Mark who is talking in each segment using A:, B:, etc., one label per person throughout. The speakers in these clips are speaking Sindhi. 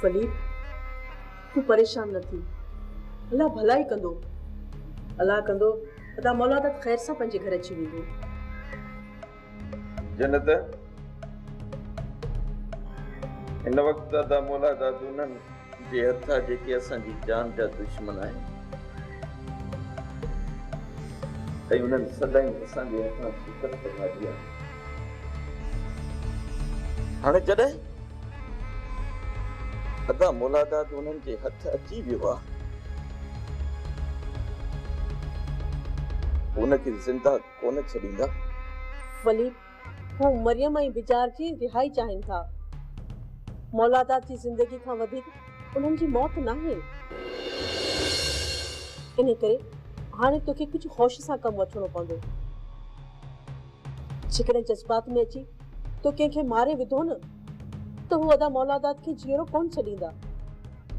A: فليپ، تون پريشان نه ٿي. الله ڀلا ئي ڪندو. الله ڪندو ادا مولادت خير سان پنهنجي گهر اچي ويندو.
B: جنت هن وقت دادا مولا دادونن جي هٿا جيڪي اسان جي جان جا دشمن آهن ۽ انهن سدائين اسان جي هٿان شڪست کاڌي آهي هاڻي جڏهن ادا مولا داد انهن جي هٿ اچي ويو آهي ان کي زنده ڪونه ڇڏيندا. وليد،
A: هو مريم ۽ بجار جي رهائي چاهين ٿا. مولادات جي زندگي کان وڌيڪ انهن جي موت ناهي. انهي ڪري هاڻي توکي ڪجهه هوش سان ڪم وٺڻو پوندو. جيڪڏهن جذبات ۾ اچي تو ڪنهن کي ماري وڌو نه ته هو ادا مولادات کي جيئرو ڪونه ڇڏيندا.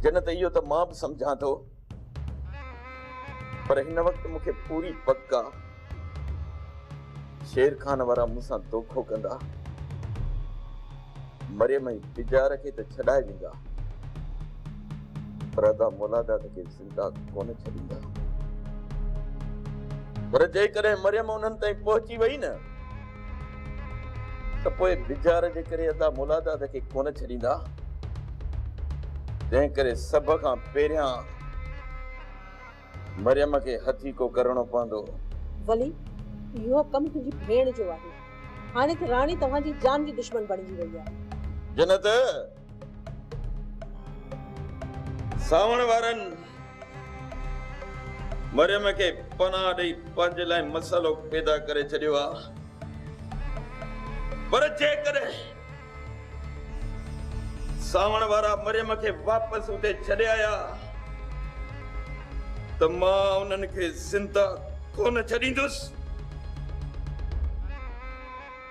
A: جنت،
B: اهو ته مان به سمجهان ٿو. پر هن وقت مون کي پوري پڪ آ شير خان وارا مون سان دوکو ڪندا. مريم ۽ بجار کي ته ڇڏائي ويندا پر ادا مولاداد کي زنده ڪونه ڇڏيندا. پر جيڪڏهن مريم انهن تائين پهچي وئي نه ته پوء بجار جي ڪري ادا مولا داد کي ڪونه ڇڏيندا، جنهن ڪري سڀ کان پهريان مريم کي هٿيڪو ڪرڻو پوندو. ولي،
A: اهو ڪم تنهنجي ڀيڻ جو آهي. هاڻي ته راڻي توهان جي جان جي دشمن بڻجي وئي آهي. جنت،
B: ساوڻ وارن مريم کي پناهه ڏئي پنهنجي لاء مسئلو پيدا ڪري ڇڏيو آ پر جيڪڏهن ساوڻ وارا مريم کي واپس اتي ڇڏي آيا ته مان انهن کي زنده ڪونه ڇڏيندس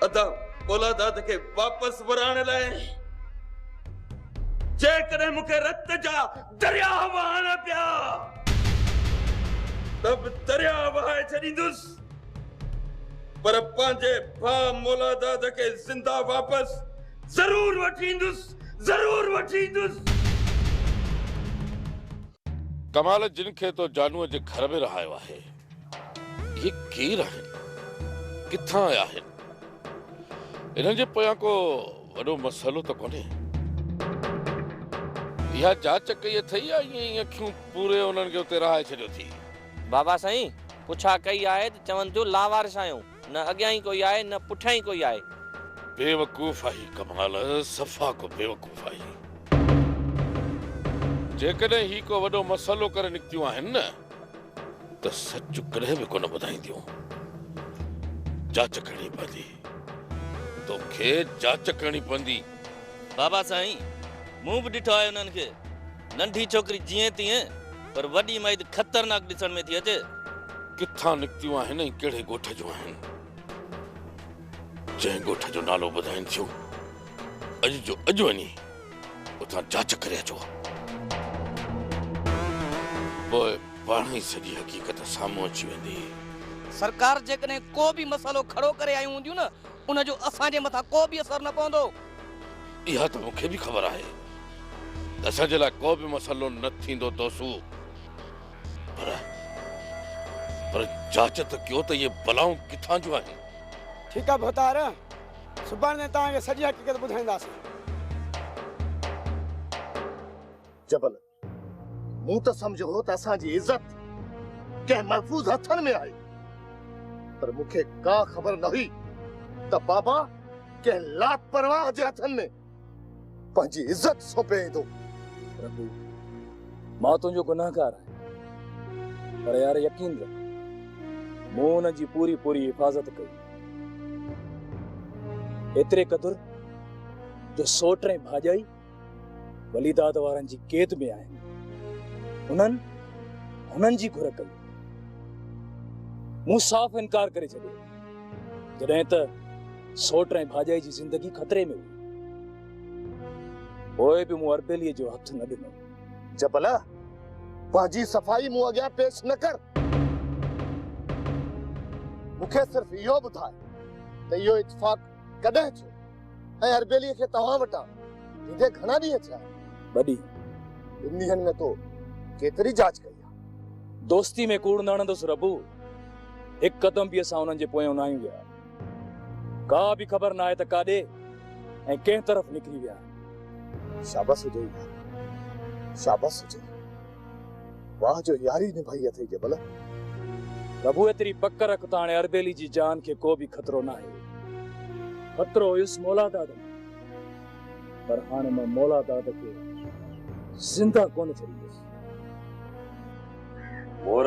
B: ادا پولاداد کي واپس ورائڻ لاء جيڪڏهن مون کي رت جا درياء وهائڻا پيا ته به درياء وهائي ڇڏيندس پر پنهنجي ڀاء مولاداد کي زنده واپس ضرور وٺي ايندس ضرور وٺي ايندس.
C: ڪمال جن کي تو جانوء جي گهر ۾ رهايو آهي. هي ڪير آهن؟ ڪٿان آيا آهن؟ هنن جي پويان ڪو وڏو مسئلو ته ڪونهي؟ اها جاچ ڪئي اٿئي يا ائين ئي اکيون پوري انهن کي اتي رهائي ڇڏيو ٿي؟ بابا سائين،
D: پڇا ڪئي آهي ته چون ٿيون لاوارث آهيون، نه اڳيان ئي ڪوئي آهي نه پٺيان ئي ڪوئي آهي. بيوقوف
C: آهي ڪمال، صفا ڪو بيوقوف آهي. جيڪڏهن هي ڪو وڏو مسئلو ڪري نڪتيون آهن نه ته سچ ڪڏهن به ڪونه ٻڌائينديون. جاچ ڪرڻي پوندي. توکي جاچ ڪرڻي پوندي. بابا
D: سائين، مون به ڏٺو آهي انهن کي. ننڍي ڇوڪري جيئن تيئن، پر وڏي مئد خطرناڪ ڏسڻ ۾ ٿي اچي. ڪٿان
C: نڪتيون آهن ۽ ڪهڙي ڳوٺ جون آهن؟ جنهن ڳوٺ جو نالو ٻڌائين ٿيون، اڄ جو اڄ وڃي اتان جاچ ڪري اچو ها. پوء پاڻ ئي سڄي حقيقت سامهون اچي ويندي. سرڪار
D: جيڪڏهن ڪو به مسئلو کڙو ڪري آيون هونديون نه ان جو اسان جي مٿان ڪو به اثر نه پوندو. اها
C: ته مون کي به خبر آهي ته اسان جي لاء ڪو به مسئلو نه ٿيندو توسو پر پر جاچ ته ڪيو ته اهي بلائون ڪٿان جون آهن. ٺيڪ آهي ڀوتار.
E: سڀاڻي تائين توهان کي سڄي حقيقت ٻڌائينداسين.
F: جبل، مون ته سمجهيو هو ته اسان جي عزت ڪنهن محفوظ هٿن ۾ آهي، پر مون کي ڪا خبر نه هئي ته بابا ڪنهن لاپرواهه جي هٿن ۾. پنهنجي عزت سونپي ايندو. ربي
G: مان تنهنجو گنهگار آهيان پر يار يقين رک مون ان جي پوري پوري حفاظت ڪئي ايتري قدر جو سوٽ ۽ ڀاڄائي وليداد وارن جي قيد ۾ آهن انهن هنن جي گهر ڪئي مون صاف انڪار ڪري ڇڏيو. جڏهن ته سوٽ ۽ ڀاڄائي جي زندگي خطري ۾ هئي پوء به مون اربيلي جو هٿ نه ڏنو. جبلا
F: پنهنجي صفائي مون اڳيان پيش نه ڪر. مون کي صرف اهو ٻڌاء ته اهو اتفاق ڪڏهن ٿيو ۽ اربيلي کي توهان وٽان ايندي گهڻا ڏينهن ٿيا آهن؟ ٻه
G: ڏينهن. ٻن
F: ڏينهن ۾ تو ڪيتري جاچ ڪئي؟ دوستي ۾
G: ڪوڙ نه هڻندس ربو، هڪ قدم به اسان انهن جي پويان ناهيون ويا. ڪا به خبر ناهي ته ڪاڏي ۽ ڪنهن طرف نڪري ويا آهن. شابس
F: هجئي يار، شابس هجئي. واهه جو ياري نڀائي اٿئي جبل.
G: ربو ايتري پڪ رک ته هاڻي اربيلي جي جان کي ڪو به خطرو ناهي. خطرو هيس مولاداد ۾ پر هاڻي مان مولاداد کي زنده ڪونه ڇڏيندس.
C: ڀور،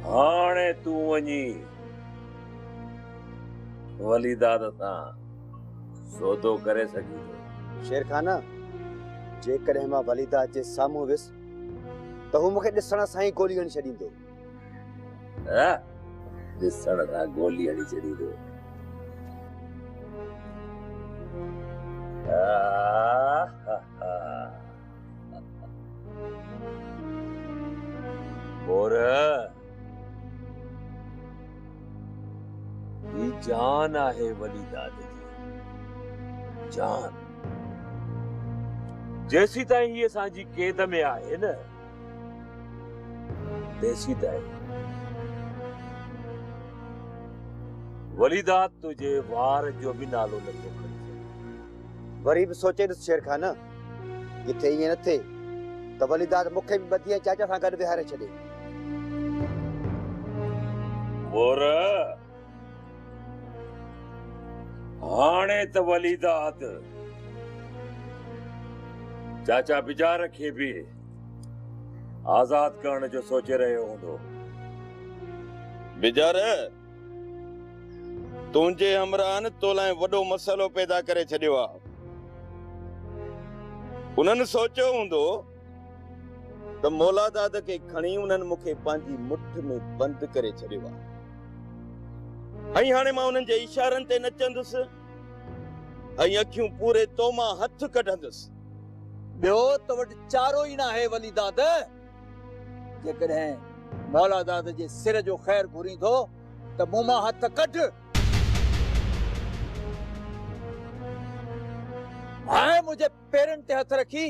C: هاڻي تون وڃي وليداد سان سودو ڪري سگهين ٿو. شيرخان،
E: جيڪڏهن مان وليداد جي سامهون ويس ته هو مون کي ڏسڻ سان ئي گولي هڻي ڇڏيندو.
C: ڏسڻ سان گولي هڻي ڇڏيندو مور هي جان آهي وڏي داد جي جان جيسيتائين هي اسان جي قيد ۾ آهي نه ديسي دائي وليدا تنهنجي وار جو به نالو نه ٿو کڻجي. وري
E: به سوچي ڏس شيرخان، ڪٿي ائين نه ٿئي ته وليدا مون کي به ٻڌي ۽ چاچا سان گڏ ويهاري ڇڏي. مور!
C: هاڻي ته وليده اٿ. چاچا بجار کي به آزاد ڪرڻ جو سوچي رهيو هوندو. بجار، تنهنجي همراهن تو لاء وڏو مسئلو پيدا ڪري ڇڏيو آ. انهن سوچيو هوندو. ته مولاداد کي کڻي انهن مون کي پنهنجي مٺ ۾ بند ڪري ڇڏيو آهي ۽ هاڻي مان انهن جي اشارن تي نچندس ۽ اکيون پوري تو مان هٿ ڪڍندس. ٻيو
H: تو وٽ چارو ئي ناهي وليداد، جيڪڏهن مولاداد جي سر جو خير گهرين ٿو ته مون مان هٿ ڪڍ. هاء منهنجي! پيرن تي هٿ رکي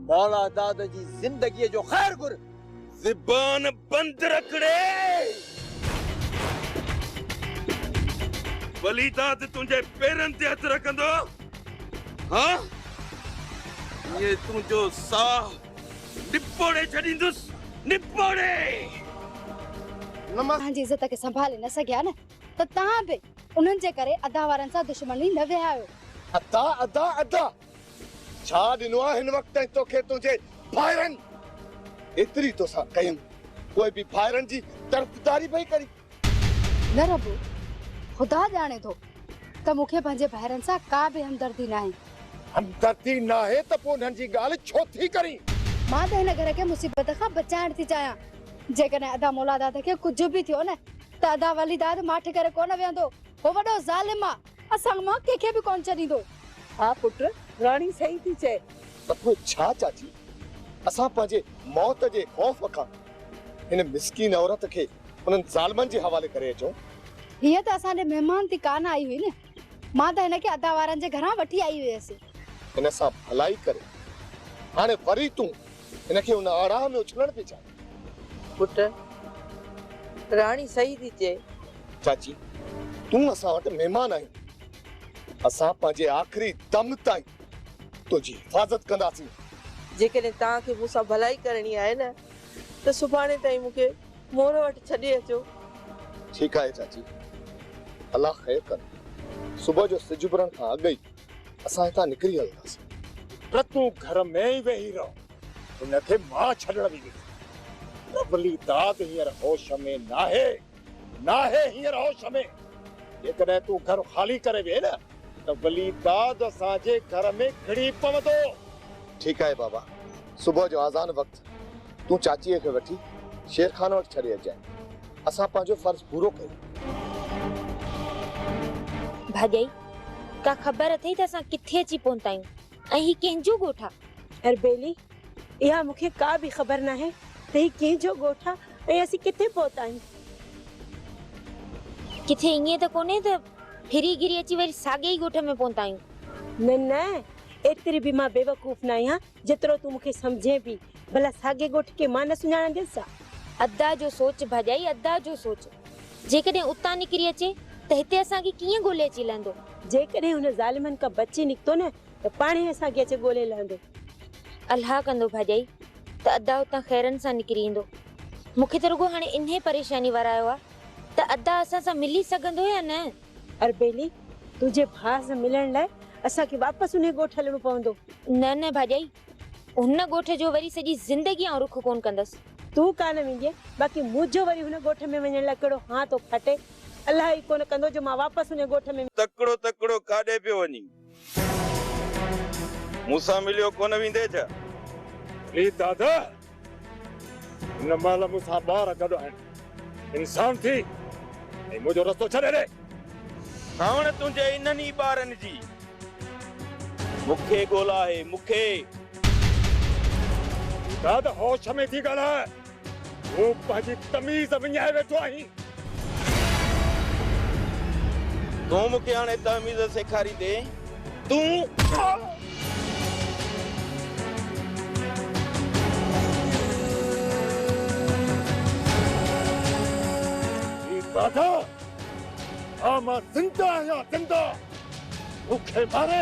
H: مولا داد جي زندگيء جو خير گهر. زبان
C: بند رکڙي! ولي داد تنهنجي پيرن تي هٿ رکندو ها ائين تنهنجو ساهه نپوڙي ڇڏيندس، نپوڙي!
I: نمس! اسان جي عزت کي سنڀالي نه سگهيا نه. ته توهان به انهن جي ڪري ادا وارن سان دشمني نه وهايو. ادا ادا
F: ادا ڇا ڏنو آ هن وقت تائين توکي تنهنجي ڀائرن ايتري توسان ڪيم پوء به ڀائرن جي طرفداري پئي ڪرين. نه
I: ربو خدا ڄاڻي ٿو ته مون کي پنهنجي ڀائرن سان ڪا به همدردي ناهي. همدردي
F: ناهي ته پوء انهن جي ڳالهه ڇو ٿي ڪرين. مان ته هن گهر
I: کي مصيبت کان بچائڻ ٿي چاهيان جيڪڏهن ادا مولاداد کي ڪجهه به ٿيو نه ته ادا ولي داد ماٺ ڪري ڪونه ويهندو، هو وڏو ظالم آ، اسان مان ڪنهن کي به ڪونه ڇڏيندو. ها پٽ،
A: راڻي صحيح ٿي چئي. ته پوء ڇا
F: چاچي، اسان پنهنجي موت جي خوف کان هن مسڪين عورت کي انهن ظالمن جي حوالي ڪري اچون؟ هيء ته
I: اسان ڏي مهمان ٿي ڪانه آئي هئي نه، مان ته هن کي ادا وارن جي گهران وٺي آئي هيس. هن سان
F: ڀلائي ڪري، هاڻي وري تون هن کي ان آڙاهه ۾ اڇلڻ پئي چاهين؟ پٽ،
A: راڻي صحيح ٿي چئي. چاچي،
F: تون اسان وٽ مهمان آهين. اسان پنهنجي آخري دم تائين تنهنجي حفاظت ڪنداسين. جيڪڏهن
A: توهان کي مون سان ڀلائي ڪرڻي آهي نه ته سڀاڻي تائين مون کي مور وٽ ڇڏي اچو. ٺيڪ
F: آهي چاچي، الله خير ڪن. صبح جو سج اڀرڻ کان اڳ ئي اسان هتان نڪري هلنداسين. پر تون گهر ۾ ئي ويهي رهه. هن کي مان ڇڏڻ به نٿو. ربلي داد هينئر هوش ۾ ناهي. ناهي هينئر هوش ۾. جيڪڏهن تون گهر خالي ڪري ويهين نه ته ولي داد اسان جي گهر ۾ گهڙي پوندو. ٺيڪ آهي بابا. صبح جو آذان وقت تون چاچيء کي وٺي شير خان وٽ ڇڏي اچجانء. اسان پنهنجو فرض پورو ڪيو.
J: ڀاڄائي، ڪا خبر اٿئي ته اسان ڪٿي اچي پهتا آهيون ۽ هي ڪنهن جو ڳوٺ آ؟ اربيلي،
A: اها مون کي ڪا به خبر ناهي ته هي ڪنهن جو ڳوٺ آ ۽ اسين ڪٿي پهتا آهيون.
J: ڪٿي ائين ته ڪونهي ته ڦري
A: گهري
J: اچي وري ساڳئي ڳوٺ ۾ پهتا آهيون. نه نه، ايتري
K: به مان بيوقوف ناهيان جيترو تون مون کي سمجهين پي. ڀلا ساڳي ڳوٺ کي مان نه سڃاڻنديس ڇا؟ ادا جو
J: سوچ ڀاڄائي ادا جو سوچ. جيڪڏهن اتان نڪري اچي ته هتي اسان کي ڪيئن ڳولي اچي لهندو؟ جيڪڏهن هن
K: ظالمن کان بچي نڪتو نه ته پاڻهي اسان کي اچي ڳولي لهندو. الها
J: ڪندو ڀاڄائي ته ادا اتان خيرن سان نڪري ايندو. مون کي ته رڳو هاڻي انهي پريشاني وارائيو آ ته ادا اسان سان ملي سگهندو يا نه؟ اربيلي،
K: تنهنجي ڀاء سان ملڻ لاء اسان کي واپس انهي ڳوٺ هلڻو پوندو. نه نه ڀاڄائي،
J: هن ڳوٺ جو وري سڄي زندگي آئون رخ ڪونه ڪندس. تون ڪانه ويندينء،
K: باقي منهنجو وري هن ڳوٺ ۾ وڃڻ لاء ڪهڙو هان ٿو ڦاٽي. الله ئي ڪونه ڪندو جو مان واپس انهي ڳوٺ ۾. تڪڙو تڪڙو ڪاڏي
B: پيو وڃين؟ مون سان مليو ڪونه ويندي ڇا؟ اي
L: دادا! هن مهل مون سان ٻار گڏ آهن. انسان ٿي ۽ منهنجو رستو ڇڏي ڏي. ساوڻ
B: تنهنجي انهن ئي ٻارن جي مون کي ڳولا آهي، مون کي. اي
L: دادا! هوش ۾ ٿي ڳالهاء. تو پنهنجي تميز وڃائي ويٺو آهين.
B: تون مون کي هاڻي تهميز سيکاريندين؟ تون. هي
L: باداء ها مان زنده آهيان زنده مون کي ماري.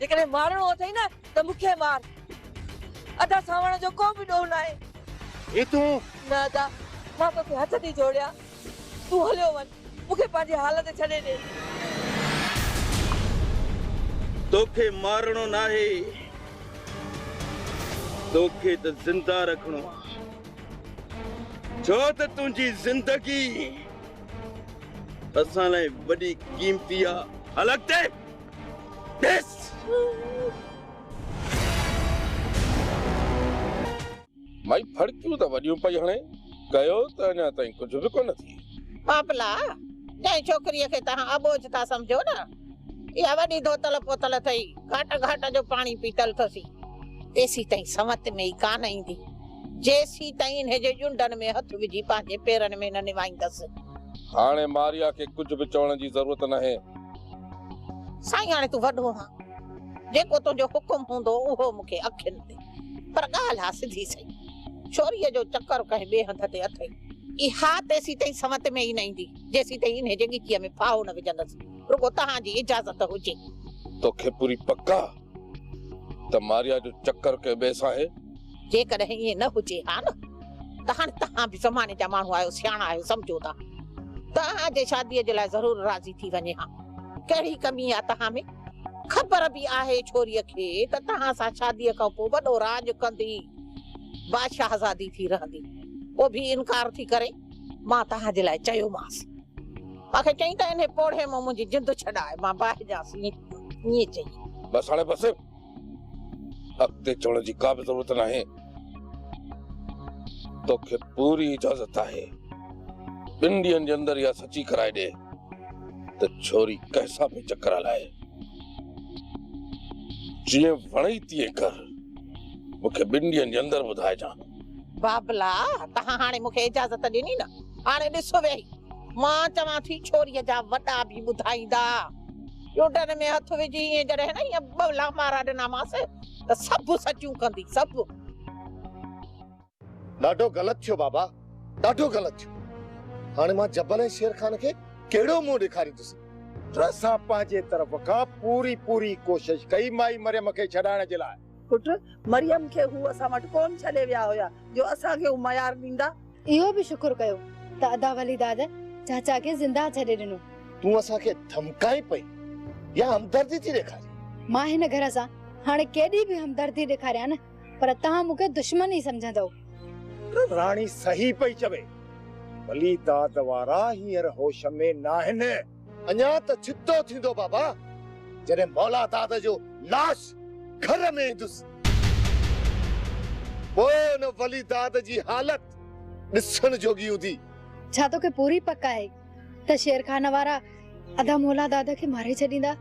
A: جيڪڏهن مارڻو اٿئي نه ته مون کي مار. ادا سانوڻ جو ڪو به ڏوهه ناهي. هي تون.
L: نه ادا
A: مان توکي هٿ ٿي جوڙيان تون هليو وڃ مون کي پنهنجي حال تي ڇڏي ڏي.
B: توکي مارڻو ناهي توکي ته زنده رکڻو آ ڇو ته تنهنجي زندگي اسان لاء وڏي قيمتي آ هل اڳتي. ڏس!
C: مئي ڦڙڪيون ته وڏيون پئي هڻي، ڪيو ته اڃا تائين ڪجهه به ڪونه ٿئي. ٻاپلا،
M: جنهن ڇوڪريء کي توهان اٻوجهه ٿا سمجهو نه، اها وڏي ڌوتل پوتل اٿئي، گهاٽ گهاٽ جو پاڻي پيتل اٿسي. تيسيتائين سنوت ۾ ئي ڪانه ايندي، جيسيتائين انهيء جي ڄنڊن ۾ هٿ وجهي پنهنجي پيرن ۾ نه نوائيندس. هاڻي
C: ماريا کي ڪجهه به چوڻ جي ضرورت ناهي.
M: سائين هاڻي تون وڏو آن جيڪو تنهنجو حڪم هوندو اهو مون کي اکين تي پر ڳالهه آ سڌي سئي ڇوريء جو چڪر ڪنهن ٻئي هنڌ تي اٿئي اها تيسين تائين سمت ۾ ئي نه ايندي جيسين تائين انهي جي ڳچيء ۾ ڦاهو نه وجهندس رڳو تهان جي اجازت هجي. توکي پوري
C: پڪ آ؟ ته ماريا جو چڪر ڪنهن ٻئي سان آهي. جيڪڏهن ائين نه
M: هجي ها نه ته هاڻي توهان به زماني جا ماڻهو آهيو، سياڻا آهيو، سمجهو ٿا. توهان جي شاديء جي لاء ضرور راضي ٿي وڃي ها. ڪهڙي ڪمي آ توهان ۾؟ خبر به آهي ڇوريء کي ته توهان سان شاديء کان پوء وڏو راڄ ڪندي، بادشاهزادي ٿي رهندي. پوء به انڪار ٿي ڪري. مان توهان جي لاء چيومانس. مان کي چيائين ته انهي پوڙهي مان منهنجي جند ڇڏاء. مان باهجانس ائين ائين چئي. بس هاڻي بس.
C: اڳتي چوڻ جي ڪا به ضرورت ناهي. توکي پوري اجازت آهي. ٻن ڏينهن جي اندر اها سچي ڪرائي ڏي ته ڇوري ڪنهن سان پئي چڪر هلائي. جيئن وڻئي تيئن ڪر. مون کي ٻن ڏينهن جي اندر ٻڌائجان. بابلا
M: توهان هاڻي مون کي اجازت ڏني نه هاڻي ڏس ويهي مان چوان ٿي ڇوري جا وڏا به ٻڌائيندا. ڏوٽن ۾ هٿ وجهي ائين جڏهن نه ائين ٻه لامارا ڏنامانس ته سڀ سچون ڪندي سڀ.
F: ڏاڍو غلط ٿيو بابا ڏاڍو غلط ٿيو هاڻي مان جبل ۽ شير خان کي ڪهڙو منهن ڏيکاريندس. پر اسان
L: پنهنجي طرف کان پوري پوري ڪوشش ڪئي مائي مريم کي ڇڏائڻ جي لاء. پٽ مريم
A: کي هو اسان وٽ ڪونه ڇڏي ويا هيا جو اسان کي هو ميار ڏيندا. اهو به شڪر
I: ڪيو ته ادا ولي داد چاچا کي زنده ڇڏي ڏنو. تون اسان کي
F: ڌمڪائين پئي يا همدردي ٿي ڏيکارين؟ مان هن گهر سان
I: هاڻي ڪيڏي به همدردي ڏيکاريان نه پر توهان مون کي دشمن ئي سمجهندؤ. پٽ راڻي
L: صحيح پئي چوي. ولي داد وارا هينئر هوش ۾ ناهن. اڃا ته
F: جدو ٿيندو بابا، جڏهن مولا داد جو لاش گهر ۾ ايندس. پوء ان ولي داد جي حالت
I: ڏسڻ جوڳي هوندي. ڇا توکي پوري پڪ آهي ته شيرخان وارا ادا مولا داد کي ماري ڇڏيندا؟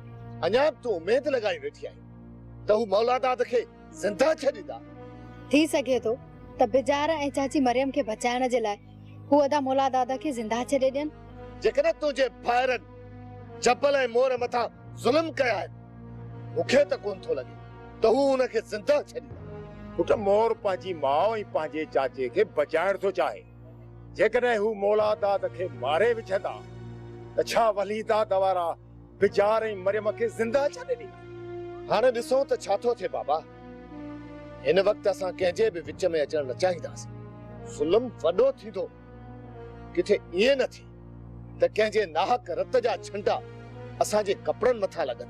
I: اڃا به تون
F: اميد لڳائي ويٺي آهين ته هو مولا داد کي زنده ڇڏيندا؟ ٿي سگهي
I: ٿو ته بجار ۽ چاچي مريم کي بچائڻ جي لاء هو ادا مولا دادا کي زنده ڇڏي ڏين. جيڪڏهن تنهنجي
F: ڀائرن جبل ۽ مور مٿان ظلم ڪيا آهن، مون کي ته ڪونه ٿو لڳي ته هو انهن کي زنده ڇڏيندا. پٽ مور
L: پنهنجي ماء ۽ پنهنجي چاچي کي بچائڻ ٿو چاهي. جيڪڏهن هو مولا داد کي ماري وجهندا ته ڇا وليدا دوارا بجار ۽ مريم کي زنده ڇڏي ڏني. هاڻي ڏسون
F: ته ڇا ٿو ٿئي بابا. هن وقت اسان ڪنهن جي به وچ ۾ اچڻ نه چاهينداسين. ظلم وڏو ٿيندو. ڪٿي ائين نه ٿئي ته ڪنهن جي ناحق رت جا ڇنڊا اسان جي ڪپڙن مٿان لڳن.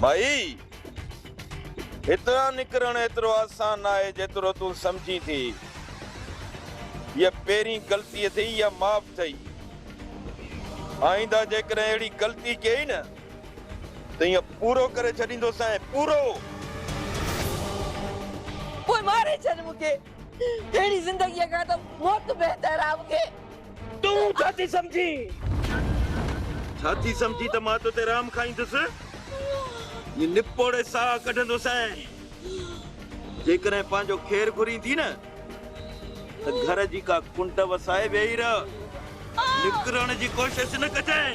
B: ڀائي! هتان نڪرڻ ايترو آسان ناهي جيترو تون سمجهين ٿي. هيء پهرين غلطي اٿئي اها معاف ٿئي. آئينده جيڪڏهن اهڙي غلطي ڪيئي نه ته ايئن پورو ڪري ڇڏيندوسانء، پورو!
M: پوء ماري ڇڏ مون کي. اهڙي زندگيء کان ته موت بهتر آ مون کي. تون ڇا
B: ٿي سمجهين؟ ڇا ٿي سمجهين ته مان توتي رحم کائيندس؟ ائين نپوڙي ساهه ڪڍندو سانء. جيڪڏهن پنهنجو خير گهرين ٿي نه ته گهر جي ڪا ڪنڊ وسائي ويهي رهه. نڪرڻ جي ڪوشش نه ڪجانء.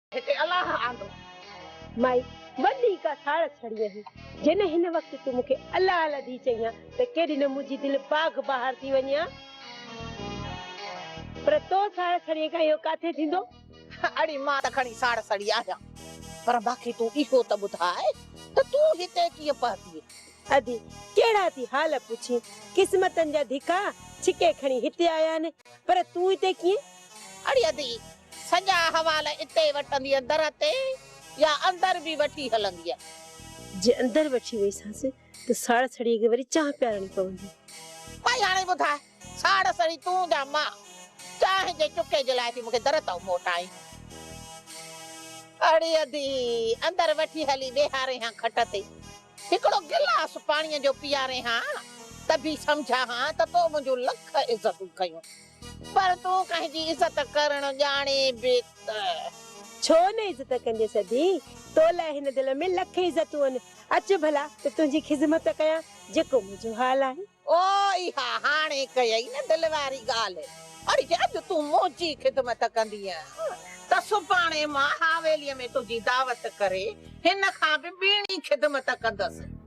M: هتي الله آندو.
K: مائي وڏي ڪا ساڙ سڙينء هئي. جنهن هن وقت تون مون کي الله الهدي چئين ها ته ڪيڏي نه منهنجي دل باغ بهار ٿي وڃي ها. پر تو ساڙ سڙينء کان اهو ڪاٿي ٿيندو؟ اڙي مان
M: ته کڻي ساڙ سڙي آهيان. پر مان کي تون اهو ته ٻڌاء ته تون هتي ڪيئن پهتيئي؟ ادي
K: ڪهڙا ٿي حال پڇين. قسمتن جا ڌڪا ڇڪي کڻي هتي آيا آهن. پر تون هتي ڪيئن؟ اڙي ادي،
M: سڄا احوال اتي وٺندينء در تي يا اندر به وٺي هلندينء؟ جي اندر
K: وٺي ويسانس ته ساڙسڙيء کي وري چانهه پيارڻي پوندي. ڀائي هاڻي
M: ٻڌاء، ساڙسڙي تون يا مان؟ چانهه جي چڪي جي لاء ٿي مون کي در تائون موٽائين؟ اڙي ادي، اندر وٺي هلي ويهارين هان کٽ تي، هڪڙو گلاس پاڻيء جو پيارين هان، ته به سمجهان هان ته تو منهنجون لک عزتون ڪيون. پر تون ڪنهن جي عزت ڪرڻ ڄاڻين به ته. ڇو
K: نه عزت ڪندين سدي. تو لاء هن دل ۾ لک عزتون آهن. اچ ڀلا ته تنهنجي خذمت ڪيان جيڪو
M: منهنجو
K: حال آهي. او
M: اها
K: هاڻي
M: ڪيئي نه
K: دل
M: واري ڳالهه. اڙي اڄ تون منهنجي خذمت ڪندينء ته سڀاڻي مان حاويليء ۾ تنهنجي دعوت ڪري هن کان به ٻيڻي خذمت ڪندس.